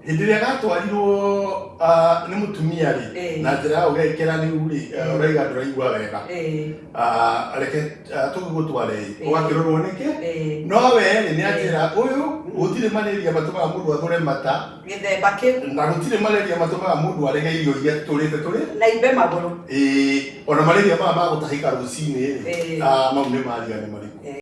hĩndĩ ĩrĩa gatwarirwo ah, nĩ mũtumia rĩ Eh. na njĩra ya ũgekĩra rĩu rĩ eh, Eh. ũraiga ndũraigua wega Eh, Ah, reke ah, tũgĩgũtware rĩ Eh. ũgakĩrorwo nĩkĩ eh, no we rĩ nĩ anjĩra ũyũ gũtirĩ marĩria matũmaga mũndũ athũre mata gĩthemba kĩu na gũtirĩ marĩria matũmaga mũndũ arege irio iria tũrĩte tũrĩ na imbe magũrũ Ĩĩ, ona marĩria maya ma gũtahĩka rũcinĩ rĩ Eh. ah, mau nĩ maria nĩ marĩkũ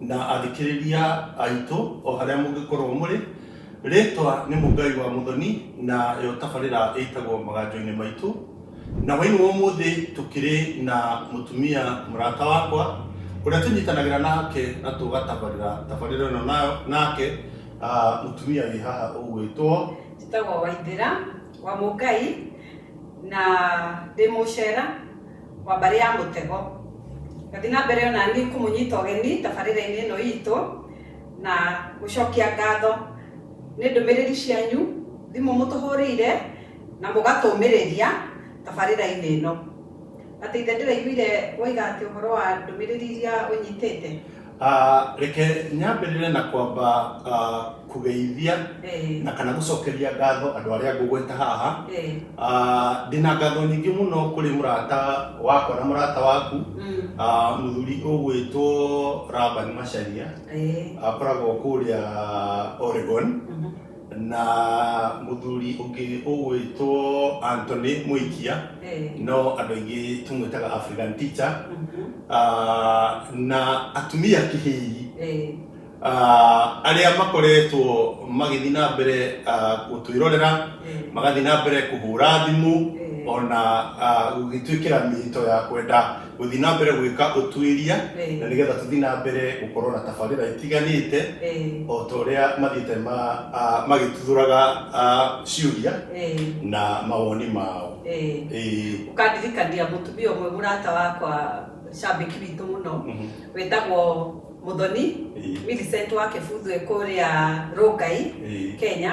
na athikĩrĩria aitũ o harĩa mũngĩkorwo mũrĩ rĩtwa nĩ mũngai wa mũthoni na yo tabarĩra ĩtagwo maganjo-inĩ maitũ na hwainĩ wa ũmũthĩ tũkĩrĩ na mũtumia mũrata wakwa ũrĩa tũnyitanagĩra nake na tũgatabarĩra tabarĩra ĩno nayo- nake ah, mũtumia wĩ haha ũgwĩtwo njĩtagwo waithĩra wa mũngai na ndĩ mũcera wa mbarĩ ya mũtego gathi na mbere onani kũmũnyita ũgeni tabarĩra-inĩ ĩno itũ na gũcokia ngatho nĩ ndũmĩrĩri cianyu thimũ mũtũhũrĩire na mũgatũmĩrĩria tabarĩra-inĩ ĩno. Atĩ ithe ndĩraiguire woiga atĩ ũhoro wa ndũmĩrĩri iria ũnyitĩte? Ah, reke nyambĩrĩre na kwamba ah, kũgeithia Eh, na kana gũcokeria ngatho andũ arĩa ngũgweta haha eh, Ah, ndĩna ngatho nyingĩ mũno kũrĩ mũrata wakwa na mũrata waku mm, Ah, mũthuri ũgwĩtwo Laban Macharia eh, akoragwo kũrĩa Oregon mhm, na muthuri ungi ugwitwo Anthony Muikia Eh, no andu aingi tumwitaga African teacher mhm, Ah, na atumia kihii eh, Ah, aria makoretwo magithii na mbere ah, gutwirorera eh, magathii na mbere kuhura thimu eh, ona ah, gugituikira mihito ya kwenda gũthiĩ na mbere gwĩka ũtuĩria Ĩĩ. na nĩgetha tũthiĩ na mbere gũkorwo na tabarĩra itiganĩte Ĩĩ. o ta ũrĩa mathiĩte ma- ah, magĩtuthũraga ah, ciũria Ĩĩ. na mawoni mao Ĩĩ. Ĩĩ. ũkandirikania mũtumia ũmwe mũrata wakwa cambĩki witũ mũno Mhm. wĩtagwo mũthoni Ĩĩ. Millicent wa kĩbuthu kũrĩa rũngai Ĩĩ. kenya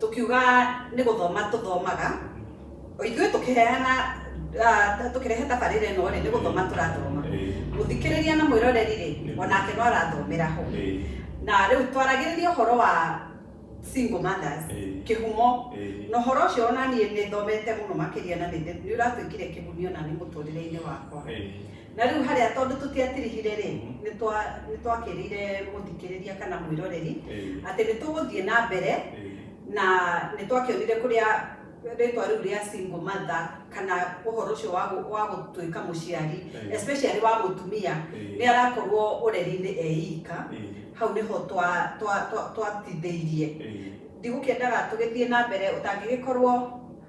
tũkiuga nĩ gũthoma tũthomaga o ithuĩ tũkĩheana ah, tũkĩrehe tabarĩra ĩno rĩ nĩ gũthoma tũrathoma mũthikĩrĩria na mwĩroreri rĩ onake no arathomera ho na rĩu twaragĩrĩria ũhoro wa single mothers Ĩĩ. kĩhumo Ĩĩ. na ũhoro ũcio ona niĩ nĩ thomete mũno makĩria na nĩ nĩ ũratuĩkire kĩguni ona nĩ mũtũrĩre-inĩ wakwa Na rĩu harĩa tondũ tũtiatirihire-rĩ, Mhm. nĩtwa- nĩtwakĩrĩire mũthikĩrĩria kana mwĩroreri Eh, atĩ nĩtũgũthiĩ na mbere eh, na nĩ twakĩonire kũrĩa rĩtwa rĩu rĩa single mother kana ũhoro ũcio wa gũ- wa gũtuĩka mũciari Eh. especially wa mũtumia nĩ eh, arakorwo ũreri-inĩ eika eh, hau nĩho twa- twa- twa- twatithĩirie eh. ndigũkĩendaga tũgĩthiĩ na mbere ũtangĩgĩkorwo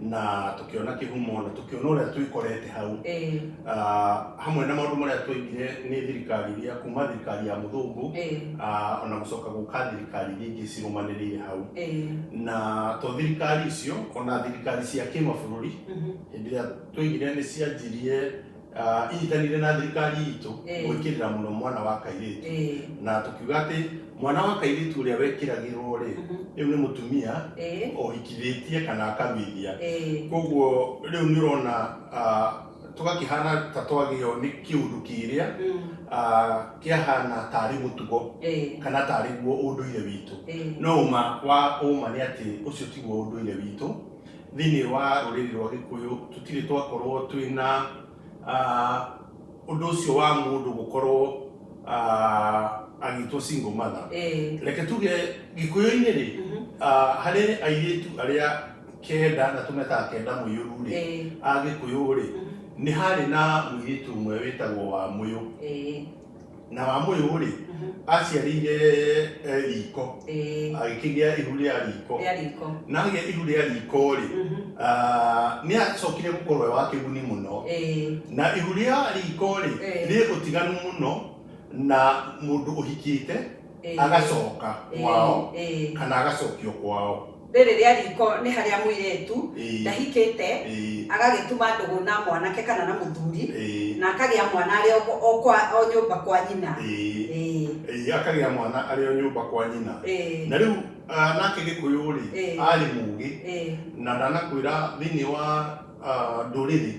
na tukiona kihumo na tukiona uria twikorete hau eh, Ah, hamwe na maundu maria twaigire ni thirikari iria kuma thirikari ya muthungu eh, ah, ona gucoka guka thirikari iria ingi cirumanirire hau eh, na to thirikari icio ona thirikari cia kimabũrũri mhm, hĩndĩ ĩrĩa twaigire nĩ cianjirie Ah, inyitanire na thirikari itũ Eh. gwĩkĩrĩra mũno mwana wa kairĩtu Eh, na tũkiuga atĩ mwana wa kairĩtu ũrĩa wekĩragĩrwo rĩ mhm, rĩu nĩ mũtumia eh, ohikithĩtie kana akaruithia eh, koguo rĩu nĩ ũrona ah, tũgakĩhana ta twagĩo nĩ kĩũndũ kĩrĩa mm, ah, kĩahana tarĩ mũtugo eh, kana tarĩ guo ũndũire witũ eh. no ũma wa ũma nĩ atĩ ũcio tiguo ũndũire witũ Thĩinĩ wa rũrĩrĩ rwa Gĩkũyũ tũtirĩ twakorwo twĩ na ũndũ ũcio wa mũndũ gũkorwo agĩtwo single mother. Reke tuge Gĩkũyũ-inĩ rĩ, harĩ airĩtu arĩa kenda na tũmetaga kenda mũiyũru rĩ, a Gĩkũyũ rĩ, nĩ harĩ na mũirĩtu ũmwe wĩtagwo Wamũyũ. na wamũyũ rĩ aciarĩire eh, riko Ĩĩ. agĩkĩgĩa ihu rĩa riko Rĩa riko. na agĩa ihu rĩa riko rĩ Mhm. ah, nĩ acokire gũkorwo e wa kĩguni mũno Ĩĩ. na ihu rĩa riko rĩ Eh. rĩ ũtiganu mũno na mũndũ ũhikĩte Eh. agacoka Eh, kwao eh. kana agacokio kwao rĩrĩ rĩa riko nĩ harĩa mũirĩtu Eh. ndahikĩte Eh, agagĩtuma ndũgũ na mwanake kana na mũthuri eh, na akagĩa mwana arĩ o kwa- o kwa- o nyũmba kwa nyina eh, Eh, eh, akagĩa mwana arĩ o nyũmba kwa nyina eh, na rĩu ah, nake gĩkũyũ rĩ Eh. arĩ mũgĩ eh, na ndanakwĩra thĩinĩ wa ah, ndũrĩrĩ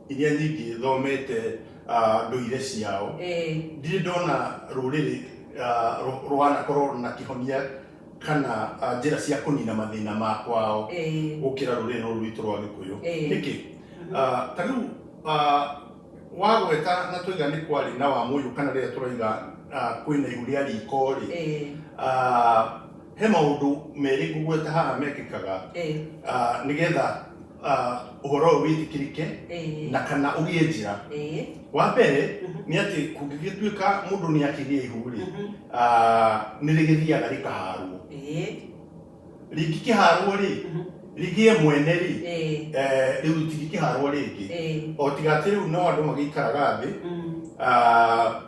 iria nyingĩ thomete ah, ndũire ciao Eh, ndirĩ ndona rũrĩrĩ ah, rũ- rwanakorwo na kĩhonia kana ah, njĩra cia kũnina mathĩna ma kwao eh, gũkĩra rũrĩrĩ rũrũ rwitũ rwa gĩkũyũ Eh. nĩkĩ Ah, ta rĩu ah, wagweta na twaiga nĩ kwarĩ na wa mũyũ kana rĩrĩa tũraiga ah, kwĩna ihu rĩa riko rĩ eh, ah, he maũndũ merĩ ngũgweta haha mekĩkaga eh, ah, nĩgetha ah, ũhoro ũyũ wĩtĩkĩrĩke Ĩĩ. na kana ũgĩe njĩra Ĩĩ. wa mbere Mhm. nĩ atĩ kũngĩgĩtuĩka mũndũ nĩ akĩgĩa ihu rĩ Mhm. ah, nĩ rĩgĩthiaga rĩkaharwo Ĩĩ. rĩngĩ kĩharwo rĩ Mhm. rĩgĩe mwene rĩ Ĩĩ. eh, rĩu tingĩkĩharwo rĩngĩ Ĩĩ. o tiga atĩ rĩu no andũ magĩikaraga thĩ Mm. ah,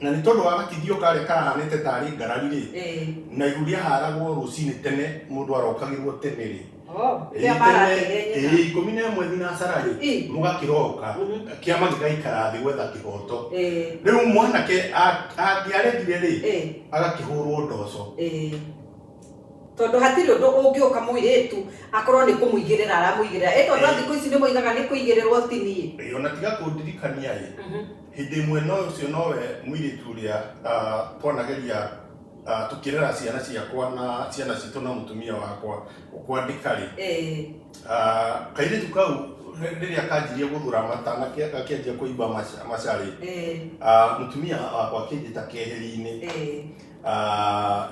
na nĩ tondũ wa gakithio karĩa karahanĩte tarĩ ngarari rĩ Ĩĩ. na ihu rĩaharagwo rũcinĩ tene mũndũ arokagĩrwo tene rĩ Oh, Ĩĩ, rĩrĩa marateire tene- nyina. ĩĩ, ikũmi na ĩmwe thinacara-rĩ Ĩĩ. mũgakĩroka Mhm. kĩama gĩgaikara thĩ gwetha kĩhoto Ĩĩ, rĩu mwanake a- angĩaregire-rĩ ĩĩ, agakĩhũrwo ndoco ĩĩ. tondũ hatirĩ ũndũ ũngĩũka mũirĩtu akorwo nĩ kũmũigĩrĩra aramũigĩrĩra ĩ tondũ a Ĩĩ. thikũ ici nĩ moigaga nĩ kũigĩrĩrwo ti niĩ Ĩĩ, ona tiga kũndirikania-ĩ Mhm. hĩndĩ ĩmwe no ũcio nowe mũirĩtu ũrĩa ah, twanageria ah, tũkĩrera ciana ciakwa na ciana citũ na mũtumia wakwa kwandĩka-rĩ Eh, ah, kairĩtu kau rĩ- rĩrĩa kanjirie gũthura mata na ke- gakĩanjia kũimba maca- macarĩ eh, ah, mũtumia wakwa akĩnjĩta keheri-inĩ eh, Ah,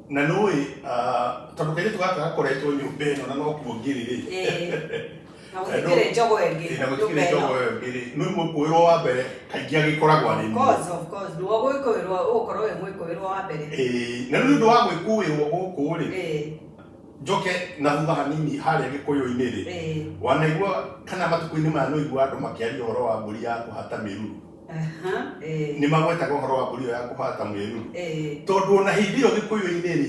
na nũĩ ah, tondũ kairĩtu gaka gakoretwo nyũmba ĩno na no kuo ngĩrĩ-rĩ eh. na gũtikĩrĩ njogo ĩngĩ Ĩĩ, na gũtikĩrĩ nyũmba ĩno. njogo ĩyo ĩngĩ rĩ nĩ mũkũĩrwo wa mbere kaingĩ agĩkoragwo arĩ niĩ Cause of course, nĩwe ũgũĩkũĩrwo ũgũkorwo wĩ mũĩkũĩrwo wa mbere Ĩĩ, na rĩu nĩ ũndũ wa gwĩkuĩrwo gũkũ rĩ Ĩĩ, njoke na thutha hanini harĩa gĩkũyũ-inĩ rĩ ĩĩ. wanaigua kana matukũ-inĩ maya nĩ ũigua andũ makĩaria ũhoro wa mbũri ya kũhata mĩruru Aha, ĩĩ, nĩ magwetaga ũhoro wa mbũri ĩyo ya kũhata mĩruru ĩĩ. tondũ ona hĩndĩ ĩyo gĩkũyũ-inĩ rĩ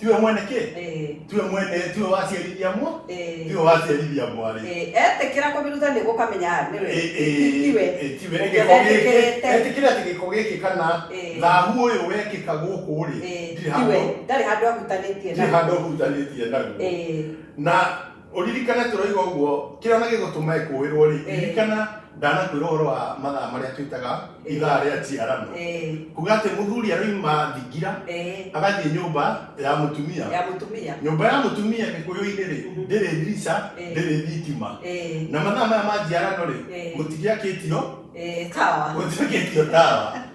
tiwe mwene kä Eh, tiwe mwene tiwe waciarithia mwa eh, tiwe waciarithia mwarä eh, etĩkĩra kũmĩruta nĩ gũkamenya nĩwe tiwe etĩkĩre atä gä ko gä kä kana Eh. thahu å yå wekä ka gå kå rä Eh, ndirä tiwe ndarĩ handũ ahutanĩtie ndirä naguo. handå hutanä tie naguo Eh, na ũririkane tũroiga ũguo kĩrĩa na gĩgũtũma ĩkũĩrwo rĩ Eh. ririkana ndanakwĩra ũhoro wa mathaa marĩa twĩtaga ithaa rĩa njiarano Eh, kuga atĩ mũthuri araima thingira eh, agathiĩ nyũmba ya mũtumia ya mũtumia nyũmba ya mũtumia gĩkũyũ-inĩ rĩ Mhm. ndĩrĩ ndirica Eh. ndĩrĩ thitima Eh, na mathaa maya ma njiarano rĩ Eh. gũtigĩakĩtio eh, tawa gũtigĩakĩtio tawa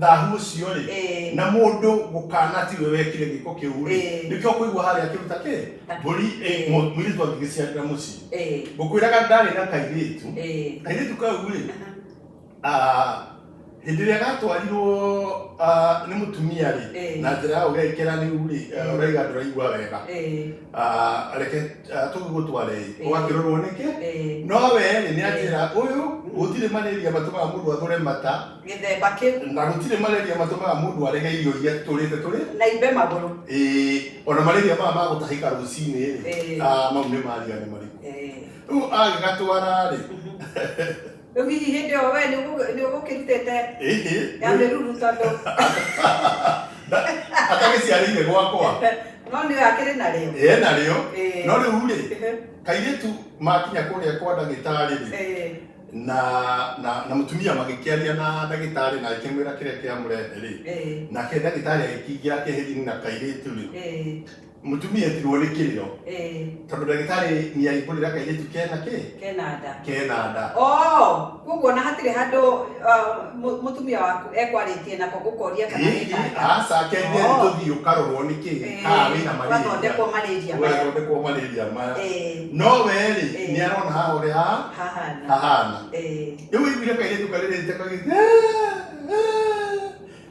thahu ũcio rĩ Eh. na mũndũ gũkana tiwe wekire gĩko kĩu rĩ Eh. nĩkĩo kũigua harĩa akĩruta kĩ Takĩ. mbũri Eh. mũirĩtu angĩgĩciarĩra mũciĩ Eh, ngũkwĩraga ndarĩ na kairĩtu eh, kairĩtu kau rĩ ah, hĩndĩ ĩrĩa gatwarirwo ah, nĩ mũtumia rĩ Eh. na njĩra ya ũgekĩra rĩu rĩ ah, ũraiga ndũraigua wega eh, Ah, reke ah, tũgĩgũtware Eh. ũgakĩrorwo nĩkĩ eh. no we rĩ nĩ anjĩra ũyũ gũtirĩ marĩria matũmaga mũndũ athũre mata gĩthemba kĩu na gũtirĩ malaria matũmaga mũndũ arege irio iria tũrĩte tũrĩ na imbe magũrũ ĩĩ ona malaria maya ma gũtahĩka rũcinĩ rĩ Ĩĩ. ah, mau nĩ maria nĩ marĩkũ Eh, rĩu agĩgatwara rĩ rĩu hihi hĩndĩ ĩyo we nĩ ũgũkĩrutĩte ĩhĩ ya mĩruru tondũ atagĩciarĩire gwakwa no nĩ akĩrĩ narĩo ĩe narĩo Ĩĩ. no rĩu rĩ kairĩtu makinya kũrĩa kwa ndagĩtarĩ rĩ Eh, na na na mutumia magikiaria na ndagitari na akimwira kiria kiamurete ri Eh, nake ndagitari agikingira keheri na kairitu ri eh, mutumia etirwo ni kiriro eh, tondu ndagitari ni aihurira kairitu kena ki kena nda kena nda Oh, koguo na hatirĩ handũ uh, mu- mũtumia waku ekwarĩtie nako gũkoria kana Hihi, nĩkanda aca kendia Oh. nĩ tũthiĩ ũkarorwo nĩ kĩ Eh, kaa wĩna malaria wathondekwo malaria maya. ũgathondekwo malaria maya Eh, no werĩ Eh. nĩ arona haha ũrĩa ha- hahana hahana Eh, rĩu wĩiguire kairĩtu karĩrĩte kagĩte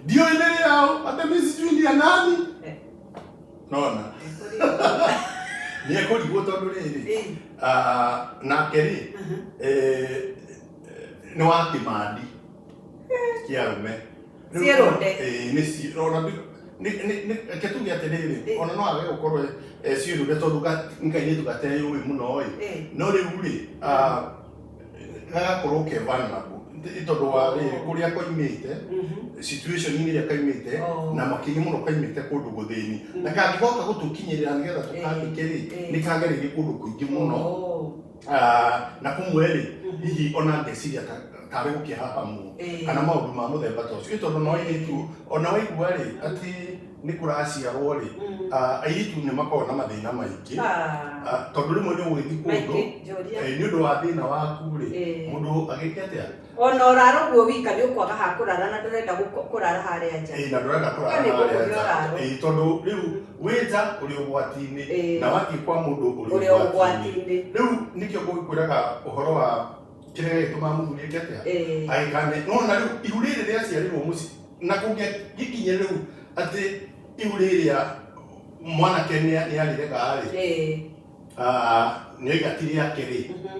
ndiũĩ nĩ rĩao atĩ mi sijui ni ya nani Eh. nona nĩ ekũrigwo tondũ rĩrĩ Eh, ah, nake rĩ aha. eh, nĩ wa kĩmandi kĩa rume Rĩu Thiĩ rũnde. eh, nĩ ci- ona ndu- nĩ- nĩ- nĩ- reke tuge atĩrĩrĩ Eh. ona no age gũkorwo eh, ciĩrũnde tondũ ga- nĩ kairĩtu gateyũĩ mũno ĩ Eh. no rĩu rĩ ah, gagakorwo ke vulnerable Nĩ tondũ wa rĩrĩ kũrĩa koimĩte Mhm. situation inĩ ĩrĩa kaimĩte Oh. na makĩria mũno kaimĩte kũndũ gũthĩni na kangĩgoka gũtũkinyĩrĩra nĩgetha tũkandĩke rĩ Eh, eh. nĩ kagereire kũndũ kũingĩ mũno Oh. Ah, na kumwe rĩ hihi ona ngeciria ta- tarĩ gũkĩhahamwo Eh. kana maũndũ ma mũthemba ta ũcio Ĩ tondũ no airĩtu ona waigua rĩ atĩ nĩ kũraciarwo rĩ Mm. ah, airĩtu nĩ makoragwo na mathĩna maingĩ Ah, Ah, tondũ rĩmwe nĩ ũgũgĩthiĩ kũndũ maingĩ njũria eh, nĩ ũndũ wa thĩna waku rĩ Eh. mũndũ agĩke atĩa Ona ũrara ũguo wika nĩ ũkwaga ha kũrara na ndũrenda gũko- kũrara harĩa nja. Ĩĩ, na ndũrenda kũrara Kwani harĩa gũkũ nja. ndũrarwo. Ĩĩ, tondũ rĩu wĩ nja ũrĩ ũgwati-inĩ Ĩĩ. na wathiĩ kwa mũndũ ũrĩ Ũrĩ ũgwati-inĩ ũgwati-inĩ. rĩu nĩkĩo ngũgĩkwĩraga ũhoro wa kĩrĩa gĩgĩtũmaga mũthuri eke atĩa Ĩĩ. agĩkane nona rĩu ihu rĩrĩ rĩaciarirwo mũciĩ na kũngĩgĩkinya rĩu atĩ ihu rĩrĩa mwanake nĩ nĩ arĩrega rĩ Ĩĩ. ah, nĩoiga ti rĩake rĩ Mhm.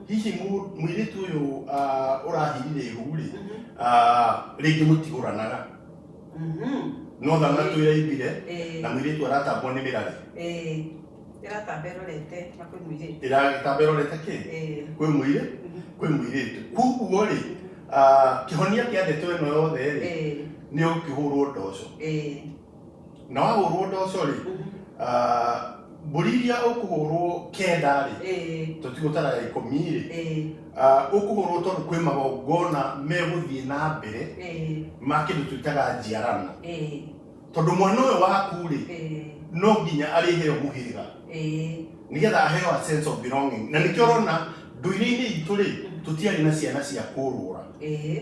hihi mu- mũirĩtu ũyũ ah, ũrahirire ihu-rĩ ah, rĩngĩ mũtigũranaga Mhm. no thamna twĩraibire Eh, na mũirĩtu aratambwo nĩ mĩrarĩ eh, ĩratamba ĩrorete na kwĩ mũirĩtu ĩragĩtamba ĩrorete kĩ Eh, kwĩ mũirĩ mhm. kwĩ mũirĩtu kuguo-rĩ ah, kĩhonia kĩa ndeto ĩno yothe-rĩ Eh, nĩ ũkĩhũrwo ndoco eh, na wahũrwo ndoco rĩ ah, mbũri iria ũkũhũrwo kenda rĩ ĩĩ tũtigũtara ya ikũmi rĩ ĩĩ ah, ũkũhũrwo tondũ kwĩ magongona megũthiĩ na mbere ĩĩ ma kĩndũ twĩtaga njiarano ĩĩ tondũ mwana ũyũ waku rĩ ĩĩ no nginya arĩheo mũhĩrĩga ĩĩ nigetha aheo a sense of belonging na nĩkĩo ũrona ndũire-inĩ itũ rĩ tũtiarĩ na ciana cia kũrũra ĩĩ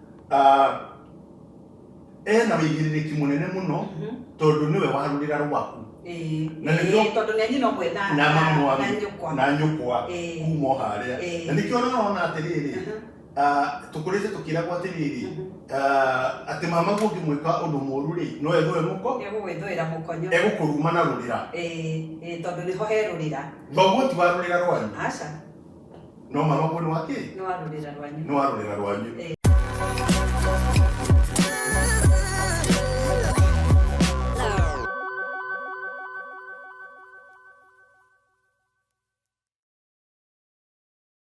Ah, ena wĩigĩrĩrĩki mũnene mũno Mhm. tondũ nĩwe warũrĩra rwaku Ĩĩ, Na ĩĩ, nĩkĩo- tondũ nĩ nyina ũmwe na- na mamu wa- na nyũkwa. na nyũkwa Ĩĩ. kuma o harĩa Ĩĩ. na nĩkĩo ũrona atĩrĩrĩ Mhm, ah, tũkũrĩte tũkĩragwo atĩrĩrĩ mhm. ah, atĩ mama guo ũngĩmwĩka ũndũ mũru rĩ no ethũe mũko Egũgwĩthũĩra mũkonyo. egũkũruma na rũrĩra Ĩĩ, ĩĩ, tondũ nĩho herũrĩra thoguo ti warũrĩra rwanyu aca no marogwo nĩ wakĩ nĩ wa rũrĩra rwanyu nĩ wa rũrĩra rwanyu